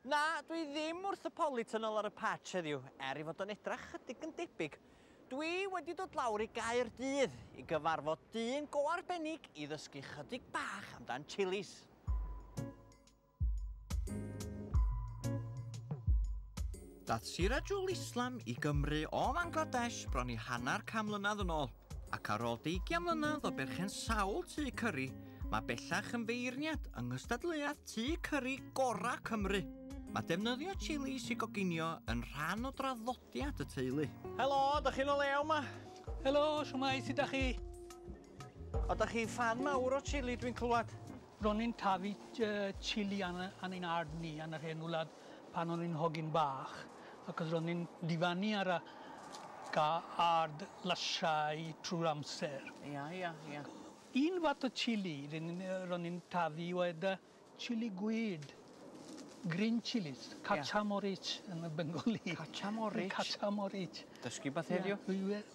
Na, dwi ddim wrth y polytunnel ar y patch heddiw, er i fod o'n edrach chydig yn debyg. Dwi wedi dod lawr i Gaerdydd i gyfarfod dyn go arbennig i ddysgu chydig bach amdan chilis. Daeth Sirajul Islam i Gymru o Fangladesh bron i hanner can mlynedd yn ôl, ac ar ôl deugian mlynedd o berchen sawl tŷ cyri, mae bellach yn feirniad yng nghystadleuaeth tŷ cyri gorau Cymru. Mae defnyddio chilis i goginio yn rhan o draddodiad y teulu. Helo, da chi'n o lew ma? Helo, siwmai, sut da chi? O, da chi fan mawr o chili dwi'n clywed? Ro'n ni'n tyfu chili yn yn ein ard ni yn yr hen wlad pan o'n i'n hogyn bach achos ro'n ni'n difannu ar y ga- ard lysiau trwy'r amser. Ia ia ia. Un fath o chili ry'n ni'n yy ro'n ni'n tyfu oedd y chili gwyd. Green chillies. Ia. Kacha Morich yn y Bengali. Kacha Morich? Kacha Morich. Dysgu wbath heddiw. Ia dwi we-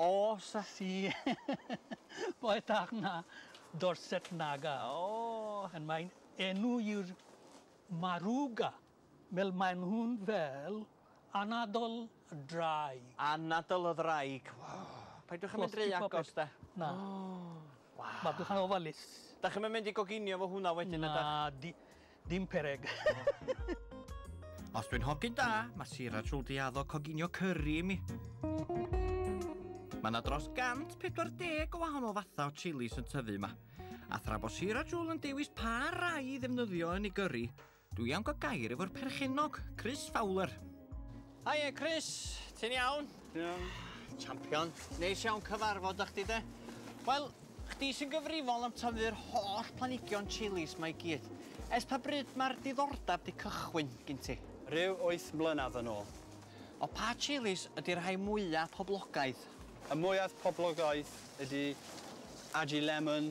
Os a si Mae Tach Na, Dorset Naga. Oh! And mae'n enw i'r Maruga. Wel maen nhw'n fel anadl y ddraig. Anadl y ddraig. Paidwch a mynd ry agos de. Na. Waw. Maduch yn ofalus. Dach chi'm yn mynd i goginio efo hwnna wedyn ydach? Na. Dim pereg. Os dwi'n hogyn da, mae Sir a Trwldy addo coginio curry i mi. Mae yna dros 140 o wahanol fathau o chilis yn tyfu yma. A thra bod Sir a Trwldy yn dewis pa rai i ddefnyddio yn ei gyrru, dwi am gael gair efo'r perchennog, Chris Fowler. Hiya Chris, ti'n iawn? Iawn. Champion. Neis iawn cyfarfod â chdi de. Wel, chdi sy'n gyfrifol am tyfu'r holl planhigion chilis mae gyd. Ers pa bryd mae'r diddordeb di cychwyn gin ti? Rhyw wyth mlynedd yn ôl. O pa chilis ydi'r rhai mwya poblogaidd? Y mwyaf poblogaidd ydi Aji Lemon,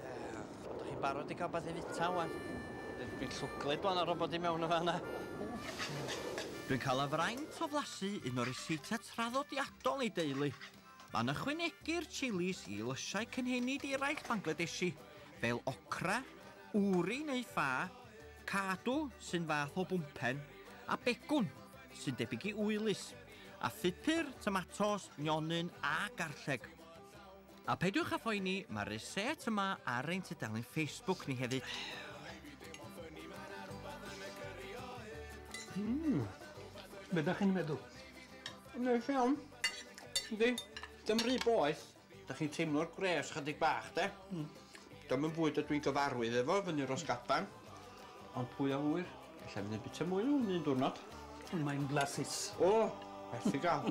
Ydych chi'n barod i cael beth i fita wan? Dwi'n llwglyd bod yna robot i mewn yn fan yna. Dwi'n cael y fraint o flasu un o ryseitiau traddodiadol ei deulu. Mae'n ychwanegu'r chilis i lysiau cynhenid eraill Bangladeshi, fel okra, uri neu ffa, kaadu, sy'n fath o bwmpen, a begwn, sy'n debyg i uwlys, a phupur, tomatos, nionyn a garlleg. A peidiwch â phoeni, mae'r reset yma ar ein tudalen Facebook ni hefyd. Mmm, be da chi'n meddwl? Neis iawn. Yndi, dim rhy boeth. Da chi'n teimlo'r gwres chydig bach, de? Mm. Dim yn fwyd ydw i'n gyfarwydd efo, fyny ros gaban. Ond pwy a ŵyr, efallai mynd yn bita mwy o hwn un diwrnod. Mae'n flasus. O, werth i gael.